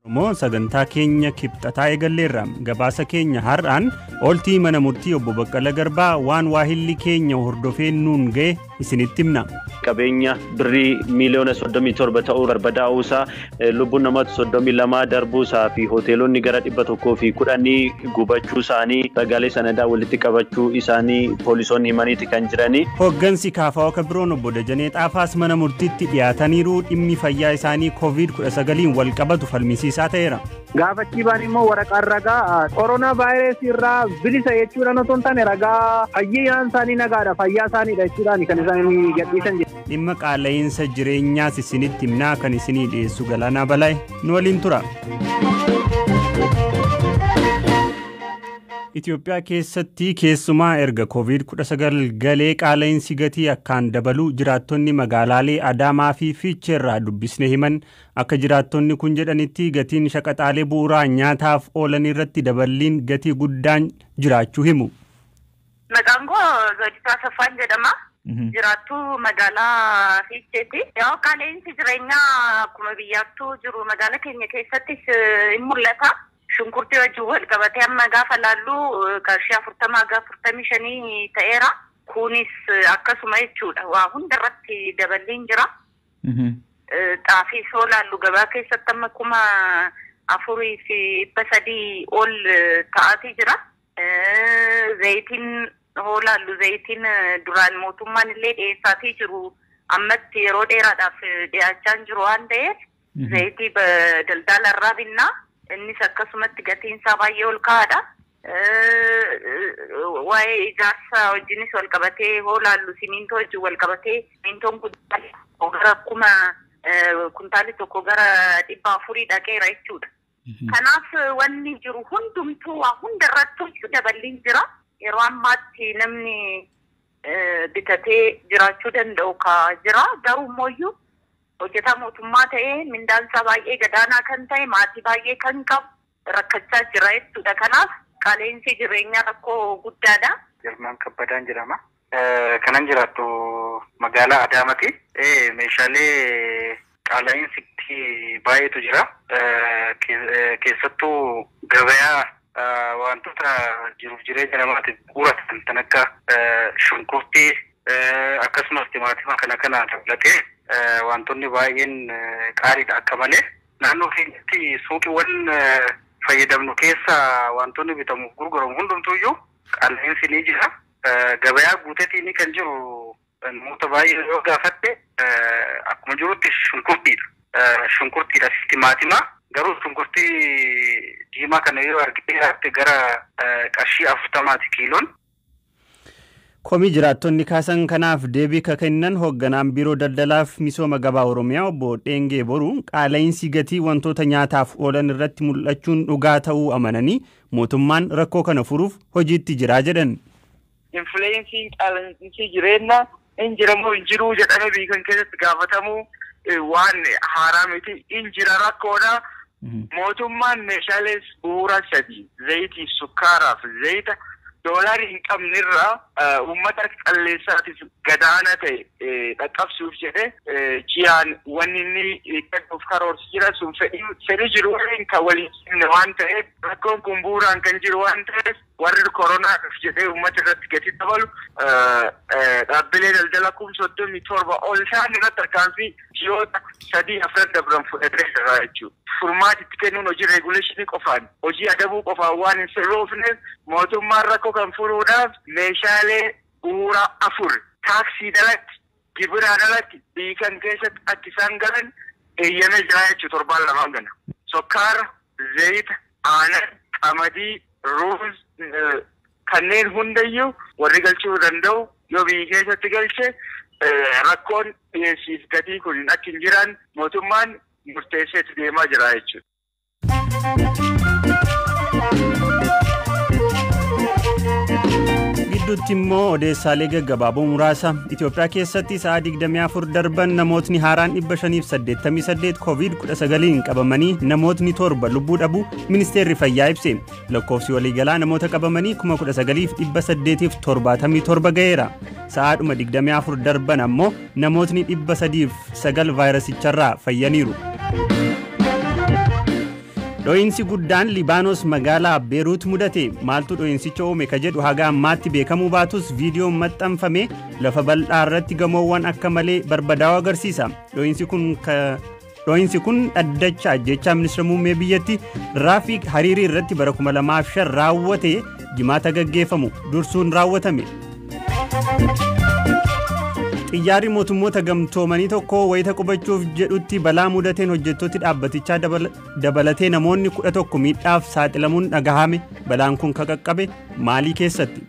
Oromoo sagantaa keenya kibxataa eegalleerra gabaasa keenya har'aan ooltii mana murtii obbo Baqqala Garbaa waan waahilli keenya hordofee nuun ga'e isinitti himna. qabeenya birrii miiliyoona 37 ta'uu barbadaa'uu isaa lubbuun nama 32 darbuu isaa fi hoteelonni gara 110 gubachuu isaanii ragaalee sanadaa walitti qabachuu isaanii poolisoonni himaniiti kan jiranii. Hooggansi kaafaa oka biroon obbo Dajanee Xaafaas mana murtiitti dhiyaataniiru dhimmi fayyaa isaanii koovid 19n walqabatu falmisiisaa ta'eera. Gaafachii baan immoo waraqaan ragaa koronaa vaayirasii irraa bilisa jechuudhaan otoo hin taane ragaa fayyaan isaanii nagaadha fayyaa isaaniidha jechuudhaan kan isaan gadhiisan jedhu. Dhimma qaala'iinsa jireenyaas isinitti himnaa kan isinii dhiyeessu Galaanaa Balaay nu waliin tura. Itoophiyaa keessatti keessumaa erga Covid 19 galee qaala'insi gatii akkaan dabaluu jiraattonni magaalaalee Adaamaa fi Fiichee irraa dubbisne himan. Akka jiraattonni kun jedhanitti gatiin shaqaxaalee bu'uuraa nyaataaf oolan irratti daballiin gatii guddaan jiraachuu himu. Maqaan koo Zoodisaa Saffaan jedhama. Jiraattuu magaalaa Fiicheeti. Yoo qaala'insi jireenyaa akkuma biyyaattuu jiru magaala keenya keessattis in mul'ata. Shunkurtii wajjin wal qabatee amma gaafa laallu qarshii 40 haga 45 ta'eera. Kunis akkasuma jechuudha. Waa hunda irratti daballiin jira. Xaafii soo laallu gabaa keessatti amma kuma afurii fi dhibba sadii ol ta'aatii jira. Zayitiin hoo laallu zayitiin duraan mootummaan illee dhiyeessaatii jiru ammatti yeroo dheeraadhaaf dhiyaachaa hin jiru waan ta'eef Zayitii daldaala irraa binna. Innis akkasumatti gatiin isaa baay'ee ol ka'aadha. Waa'ee ijaarsa wajjinis wal qabatee hoo laallu simiintoo wajjin wal qabatee simiintoon kuntaali tokko gara kuma kuntaali tokko gara dhibba afurii dhaqeera jechuudha. Kanaaf wanni jiru hundumtuu waa hunda irrattuuyyu daballiin jira. Yeroo ammaatti namni bitatee jiraachuu danda'u ka jira. Garuu immoyyu hojjetaa mootummaa ta'ee mindaan isaa baay'ee gadaanaa kan ta'e maatii baay'ee kan qabu rakkachaa jira jechuudha. Kanaaf qaala'insi jireenyaa rakkoo guddaadha. Girmaan Kabbadaan jedhama. Kanan jiraadhu magaalaa Adaamati. Meeshaalee qaala'iinsi baay'eetu jira. Keessattuu gabayaa waantota jiruuf jireenya namaatiif bu'uura ta'an kan akka shunkurtii akkasumas timaatima kana kana dabalatee waantonni baay'een qaaliidha akka malee. Naannoo keenyatti suuqiiwwan fayyadamnu keessaa waantonni bitamuuf gurguramu hundumtuuyyuu Qaala'insi ni jira. Gabayaa guutetii ni kan jiru namoota baay'ee yoo gaafatte akkuma jirutti shunkurtiidha. Shunkurtiidha fi timaatimaa. Garuu shunkurtii diimaa kana yoo argitee jiraatte gara qarshii afurtamaati kiiloon. Komii jiraattonni kaasan kanaaf deebii ka kennan hoogganaan Biiroo Daldalaaf Misooma Gabaa Oromiyaa obbo Dheengee Boruu qaala'insi gatii wantoota nyaataaf oolan irratti mul'achuun dhugaa ta'uu amananii Mootummaan rakkoo kana furuuf hojiitti jira jedhan. Infleensiin qaala'insi jireenna in jira moo hin jiruu jedhame biikan keessatti gaafatamuu waan haaraa miti. In jira rakkoodha. Mootummaan meeshaalees bu'uura sadii zayitiif sukkaaraaf zayita doolaari hin qabnerraa Uummata calleessaatiif gadaana ta'e dhaqqabsuuf jedhe jiyaan wanni inni kennuuf karoorsu jira. Sun fedhii jiru waliin kan wal hin simne waan ta'eef rakkoon kun bu'uuraan kan jiru waan ta'eef warri koronaadhaaf jedhee uummata irratti gatii dabalu dhaabbilee daldala kum 37 ol ta'an irratti tarkaanfii ji'oota sadii afran dabran fudhatee irraa jechuudha. Furmaati itti kennuun hojii reeguleeshinii qofaan, hojii adabuu qofaan waan hin sirroofneef mootummaan rakkoo kan furuudhaaf meeshaalee bu'uuraa afur taaksiin alatti, gibiraan alatti biyyi kam keessatti akka isaan galan eeyyamee jira jechuudha torbaan lamaan kana. Sukkaara, zayita, aanan, qamadii, ruuz, Kanneen hundayyuu warri galchuu danda'u yoo biyyi keessatti galche rakkoon dhiyeessiif gatii kun akka hin jiraanne mootummaan murteesseeti deemaa jira jechuudha. gidduutti immoo odeessaalee gaggabaaboo muraasa Itoophiyaa keessatti sa'a 24 darban namootni haaraan 588 covid 19n qabamanii namootni torba lubbuu dhabu ministeerri fayyaa ibse Lakkoofsi waliigalaa namoota qabamanii 19,877 ga'eera. Sa'aadhuma 24 darban ammoo namootni 309 vaayirasicharraa fayyaniiru. Dho'iinsi guddaan Libaanos magaalaa Beeruut mudate maaltu dho'iinsicha uume ka jedhu haga ammaatti beekamuu baatus viidiyoon maxxanfame lafa bal'aa irratti gamoowwan akka malee barbadaa'u agarsiisa. Dho'iinsi kun Dhoohinsi kun dhaddacha ajjechaa ministeera muummee biyyatti Raafiik Hariirii irratti bara 2005 raawwate jimaata gaggeeffamu dursuun raawwatame. Xiyyaarri mootummoota gamtoomanii tokko wayita qubachuuf jedhutti balaa mudateen hojjettooti dhaabbatichaa dabalatee namoonni 11 miidhaaf saaxilamuun dhagahame balaan kun kan qaqqabe maalii keessatti.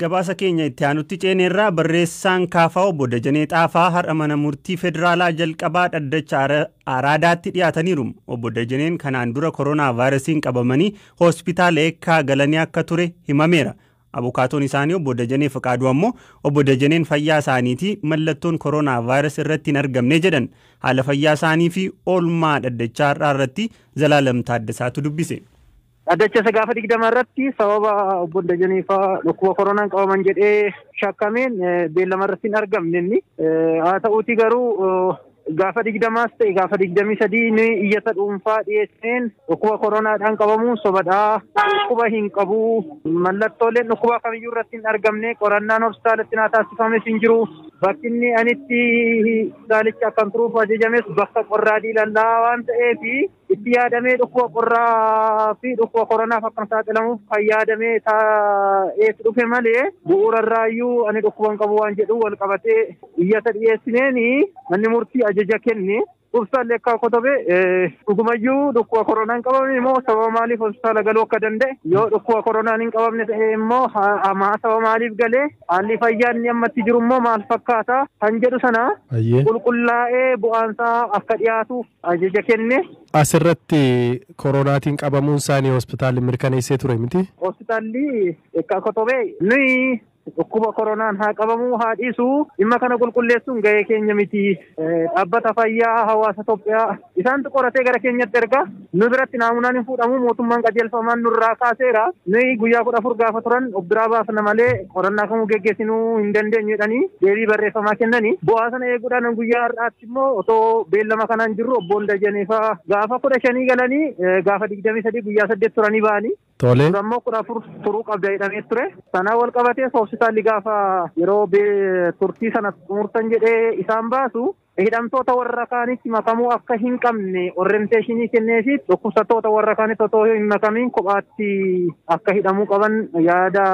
Gabaasa keenya itti aanutti ceeneerraa barreessaan kaafaa obbo Dajanee Xaafaa har'a mana murtii federaalaa jalqabaa dhaddacha Araadaatti dhiyaataniiru. Obbo Dajaneen kanaan dura koronaa vaayirasiin qabamanii hospitaala eekkaa galanii akka ture himameera. Abukaatoon isaanii obbo Dajanee Fiqaaduu ammoo obbo Dajaneen fayyaa isaaniitii mallattoon koronaa vaayirasii irratti hin argamne jedhan. Haala fayyaa isaanii fi oolmaa dhaddachaa har'aa irratti Zalaalam Taaddasaatu dubbise. Dhaddacha isa gaafa 20 irratti sababa obbo Dajanee faa dhukkuba koronaan qabaman jedhee shakkameen beellama irratti hin argamne inni. Haa ta'uutii garuu gaafa 20s ta'e gaafa 23 ni iyyata dhuunfaa dhiyeesseen dhukkuba koronaadhaan qabamuun sobadhaa dhukkuba hin qabu mallattooleen dhukkubaa kamiyyuu irratti hin argamne qorannaan hospitaalatti naa taasifames hin jiru bakki inni anitti hospitaalicha akkan turuuf ajajames bakka qorraa diilallaa waan ta'eef Itti yaadamee dhukkuba qorraa fi dhukkuba koronaaf akka hin saaxilamuuf kan yaadamee taa'eetu dhufe malee bu'uura irraayyuu ani dhukkuba hin qabu waan jedhu wal qabatee iyyata dhiyeessineen manni murtii ajaja kenne. Ibsaallee akka kotobe dhugumayyuu dhukkuba koronaa hin qabamne immoo sababa maaliif hospitaala galuu akka danda'e yoo dhukkuba koronaan hin qabamne ta'e immoo hamaa sababa maaliif galee haalli fayyaa inni ammatti jiru immoo maal fakkaata kan jedhu sana qulqullaa'ee bu'aansaa akka dhiyaatuuf ajaja kenne. As irratti koroonaatiin qabamuun isaanii hospitaalli mirkaneessee ture miti? Hospitaalli Eekkaa Kotobee nuyi dhukkuba koronaan haa qabamuu haa dhiisu dhimma kana qulqulleessuun gahee keenya miti. Dhaabbata fayyaa hawaasa Itoophiyaa isaantu qoratee gara keenyatti erga nu biratti naamunaan hin fuudhamu mootummaan qajeelfamaan nurraa kaaseera. Nuyi guyyaa kudha afur gaafa turan of biraa baafna malee qorannaa kamuu geggeessinuu hin dandeenyu jedhanii deebii barreeffamaa kennanii bu'aa sana eeguudhaan guyyaa har'aatti. immoo otoo beellama kana hin jirru obboon Dajanee faa gaafa kudha shanii galanii gaafa digdamii sadii guyyaa saddeet turanii ba'anii. Tole. Dura immoo kudha afur turuu qabda jedhamee ture. Sanaa wal qabatee hospitaalli gaafa yeroo turtii sana xumurtan jedhee isaan baasu hidhamtoota warra kaanitti makamuu akka hin qabne orrenteeshinii kennee fi dhukkubsattoota warra kaanitti otoo hin makamiin kophaatti akka hidhamuu qaban yaada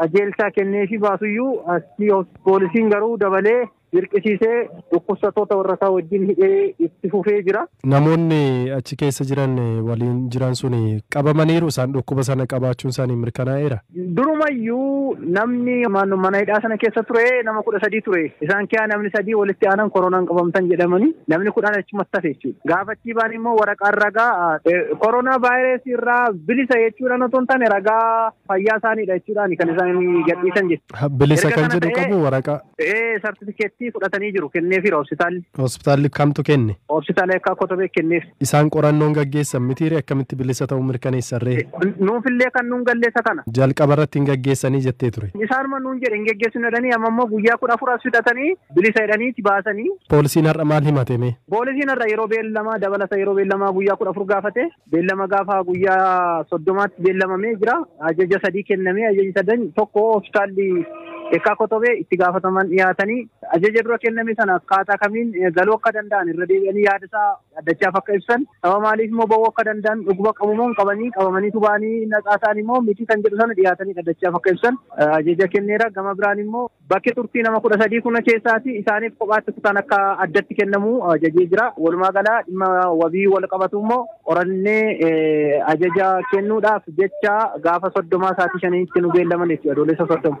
qajeelchaa kennee fi baasuyyuu asii poolisiin garuu dabalee dirqisiisee dhukkubsattoota warrasaa wajjin hidhee itti fufee jira. Namoonni achi keessa jiran waliin jiran sun qabamaniiru isaan dhukkuba sana qabaachuun isaanii mirkanaa'eera. Durumayyuu namni mana hidhaa sana keessa ture nama kudha sadii ture. Isaan keessaa namni sadii walitti aanan koronaan qabamtan jedhamanii namni kudhan achumatti hafe jechuudha. Gaafa achii baan immoo waraqaan ragaa koronaa vaayirasii irraa bilisa jechuudhaan otoo hin taane ragaa fayyaa isaaniidha jechuudhaan kan isaan gadhiisan jechuudha. Bilisa kan jedhu qabu waraqaa. Ee sartifikeettii fudhatanii jiru kenneefiira hospitaalli. Hospitaalli kamtu kenne? Hospitaala Eekkaa Kotobee kenneef. Isaan qorannoon gaggeessan mitiire akkamitti bilisa ta'uu mirkaneessan ree? Nuufillee kan nuun galle isa kana. Jalqaba irratti hin gaggeessanii jettee ture. Isaanuma nuun jedhe hin geggeessinu jedhanii amma immoo guyyaa kudha afur as fixatanii bilisa jedhaniiti baasanii. Poolisiin har'a maal himate mee? Poolisiin har'a yeroo beellamaa dabalata yeroo beellamaa guyyaa kudha afur gaafate. Beellama gaafa guyyaa soddomaatti beellamamee jira. Ajaja sadii kennamee ajaji sadan tokko hospitaalli Eekkaa Kotobee itti gaafataman dhiyaatanii ajaja dura kenname sana akkaataa kamiin galuu akka danda'an irra deebi'anii yaada isaa addachaaf akka ibsan saba maaliif immoo ba'uu akka danda'an dhuguma qabumoo hin qabanii qabamaniitu ba'anii naxaa ta'an immoo miti kan jedhu sana dhiyaatanii dhaddachaaf akka ibsan ajaja kenneera gama biraan immoo Bakki turtii nama kudha sadii kuna keessaati isaaniif kophaatti kutaan akka addatti kennamu ajajee jira. Walumaa galaa dhimma wabii wal qabatu immoo qorannee ajaja kennuudhaaf jecha gaafa soddomaa sa'aatii shaniitti nu beellaman jechuudha adoolessa soddoma.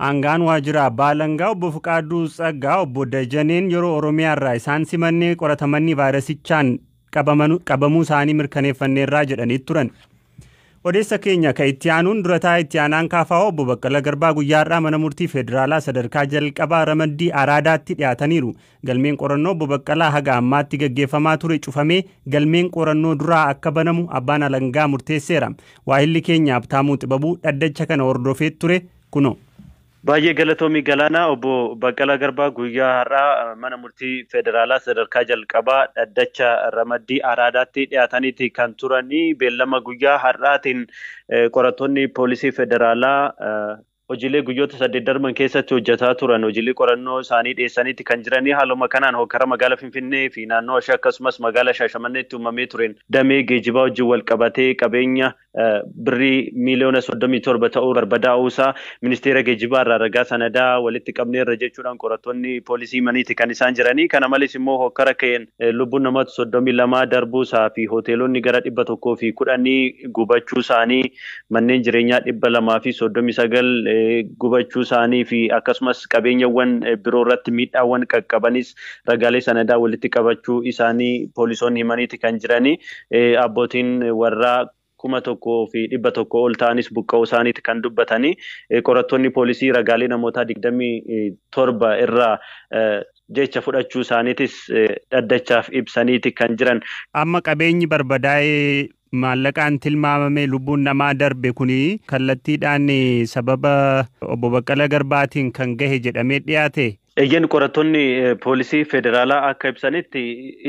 Aangaan waajjira abbaa alangaa obbo Fiqaaduu Tsaggaa obbo Dajaneen yeroo Oromiyaa irraa isaan simannee qoratamanii vaayirasichaan qabamanu qabamuu isaanii mirkaneeffanneerraa jedhanii turan. Odeessa keenya ka itti aanuun durataa itti aanaan kaafaa'oo obbo Baqqala Garbaa guyyaa har'aa mana murtii federaalaa sadarkaa jalqabaa ramaddii araadaatti dhiyaataniiru. Galmeen qorannoo obbo Baqqalaa haga ammaatti gaggeeffamaa ture cufamee galmeen qorannoo duraa akka banamu abbaan alangaa murteesseera. Waahilli keenya Abtaamuu Xibabuu dhaddacha kana hordofee ture kunoo. Baay'ee galatoomi Galaanaa. Obbo Baqqalaa Garbaa guyyaa har'aa Mana Murtii Federaalaa Sadarkaa Jalqabaa Dhaddacha Ramaddii Araadaatti dhiyaataniiti kan turani. Beellama guyyaa har'aatiin qorattoonni Poolisii Federaalaa hojiilee guyyoota saddeet darban keessatti hojjetaa turan hojiilee qorannoo isaanii dhiyeessaniiti kan jiranii. Haaluma kanaan hokkara magaala Finfinnee fi naannoo ishee akkasumas magaala Shaashamanneetti uumamee tureen damee geejibaa wajjin walqabatee qabeenya birrii miiliyoona 37 ta'uu barbadaa'uu isaa ministeera geejibaa irraa ragaa sanadaa walitti qabneerra jechuudhaan qorattoonni poolisii himaniiti kan isaan jiranii. Kana malees immoo hokkara ka'een lubbuun namoota 32 darbuu isaa fi hoteelonni gara 110 gubachuu isaanii, manneen jireenyaa 239 gubachuu isaanii fi akkasumas qabeenyawwan biroo irratti miidhaawwan qaqqabanis Ragaalee sanadaa walitti qabachuu isaanii poolisoonni himaniiti kan jiranii. Abbootiin warraa kuma tokkoo fi dhibba tokko ol ta'anis buqqa'uu isaaniiti kan dubbatanii. Qorattoonni poolisii ragaalee namootaa digdamii torba irraa jecha fudhachuu isaaniitis dhaddachaaf ibsaniiti kan jiran. Amma qabeenyi barbadaa'e Maallaqaan tilmaamamee lubbuun namaa darbe kun kallattiidhaan sababa Obbo Baqqala Garbaatiin kan gahe jedhamee dhiyaate? Eeyyeen qorattoonni poolisii federaalaa akka ibsanitti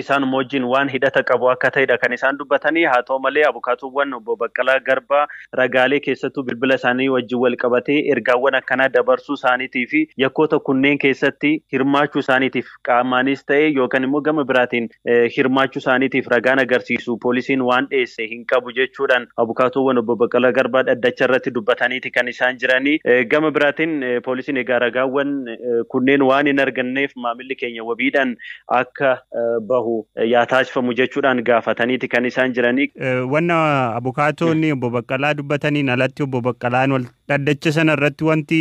isaanuma wajjin waan hidhata qabu akka ta'edha kan isaan dubbatanii haa ta'u malee abukaatoowwan Obbo Baqqalaa Garbaa ragaalee keessattuu bilbila isaanii wajjin wal qabatee ergaawwan akkanaa dabarsuu isaaniitiifi yakkoota kunneen keessatti hirmaachuu isaaniitiif qaamaanis ta'e yookaan immoo gama biraatiin hirmaachuu isaaniitiif ragaan agarsiisu poolisiin waan dhiyeesse hin qabu jechuudhaan abukaatoowwan obbo Baqqalaa Garbaa dhaddacha irratti dubbataniiti kan isaan jiranii. Gama biraatiin poolisiin egaa ragaawwan kunneen waan hin arganneef maamilli keenya wabiidhaan akka bahu yaa taasifamu jechuudhaan gaafataniiti kan isaan jiranii. Wanna abukaatoonni obbo Baqqalaa dubbataniin alatti obbo Baqqalaan Dhaddacha sana irratti wanti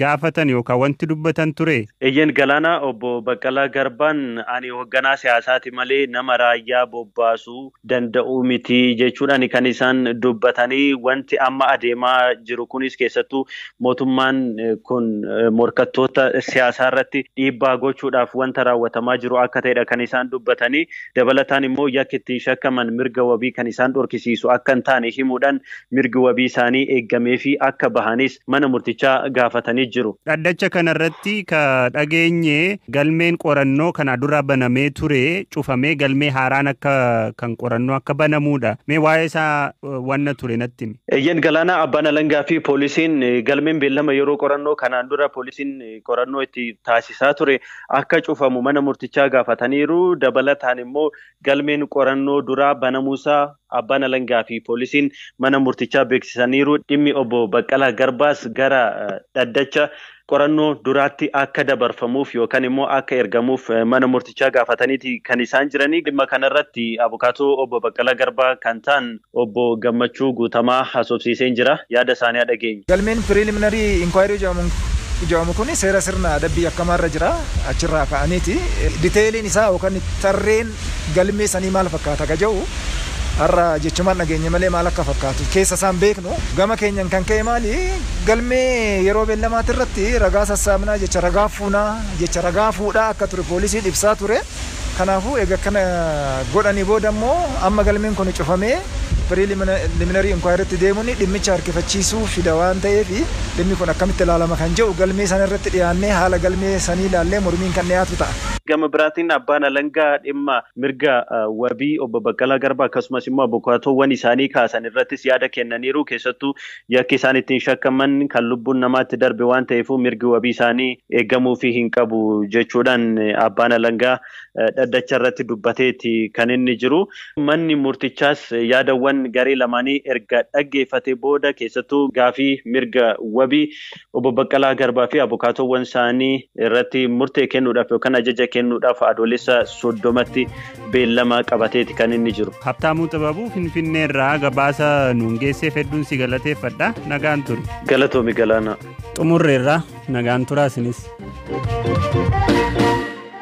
gaafatan yookaan wanti dubbatan turee? Eeyyeen Galaanaa, Obbo Baqqalaa Garbaan ani hogganaa siyaasaati malee nama raayyaa bobbaasuu danda'u miti jechuudhaani kan isaan dubbatanii. Wanti amma adeemaa jiru kunis keessattuu mootummaan kun morkattoota siyaasaa irratti dhiibbaa gochuudhaaf wanta raawwatamaa jiru akka ta'edha kan isaan dubbatanii. Dabalataan immoo yakki ittiin shakkaman mirga wabii kan isaan dhorkisiisu akka hin taane himuudhaan mirgi wabii isaanii eeggameefii akka bahanis mana murtichaa gaafatanii jiru. Dhaddacha kana irratti ka dhageenye galmeen qorannoo kanaa dura banamee ture cufamee galmee haaraan akka kan qorannoo akka banamuudha. Mee waa'ee isaa wanna ture natti himi. Eeyyeen Galaanaa abbaan alangaa fi poolisiin galmeen beellama yeroo qorannoo kanaan dura poolisiin qorannoo itti taasisaa ture akka cufamu mana murtichaa gaafataniiru. Dabalataan immoo Galmeen qorannoo duraa banamuusaa Abbaan Alangaa fi Poolisiin mana murtichaa beeksisaniiru. Dhimmi Obbo Baqqalaa Garbaas gara dhaddacha qorannoo duraatti akka dabarfamuuf yookan immoo akka ergamuuf mana murtichaa gaafataniiti kan isaan jiranii. Dhimma kanarratti abukaatoo Obbo Baqqalaa Garbaa kan ta'an Obbo Gammachuu Guutamaa haasofsiiseen jira. Yaada isaanii haa dhageenyu. Galmeen Preliminary Inquiry jedhamu kun seera sirna adabbii yakkamaa irra jira. Achirraa ka'aniiti detailiin isaa yookaan tarreen galmee sanii maal fakkaata ka jedhu har'a jechumaan dhageenye malee maal akka fakkaatu keessa isaa hin beeknu. Gama keenyan kan ka'e maali galmee yeroo beellamaatirratti ragaa sassaabnaa, jecha ragaa fuunaa, jecha ragaa fuudhaa akka ture poolisiin ibsaa ture. Kanaafuu eega akkana godhanii booda immoo amma galmeen kuni cufamee preliminary inquiry tti deemuun dhimmicha harkifachiisuu fida waan ta'eef dhimmi kun akkamitti ilaalama kan jedhu galmee sana irratti dhiyaannee haala galmee sanii ilaallee mormiin kan dhiyaatu ta'a. Gama biraatiin abbaan alangaa dhimma mirga wabii obbo Baqqalaa Garbaa akkasumas immoo abukaatoowwan isaanii kaasan irrattis yaada kennaniiru. Keessattuu Yakki isaan ittiin shakkaman kan lubbuun namaa itti darbe waan ta'eefuu mirgi wabii isaanii eegamuufii hin qabu jechuudhaan abbaan alangaa dhaddacha irratti dubbateeti kan inni jiru. Manni murtichaas yaadawwan garee lamaanii erga dhaggeeffatee booda keessattuu gaafii mirga wabii Obbo Baqqalaa Garbaa fi abukaatoowwan isaanii irratti murtee kennuudhaaf yookaan ajaja kennuudhaaf Adoolessa 30tti beellama qabateeti kan inni jiru. Habtaamuu Xibabuu Finfinneerraa gabaasa nuun geesseef hedduun si galateeffadha. Nagaan turi. Galatoomi Galaanaa. Xumurreerraa nagaan turaa isinis.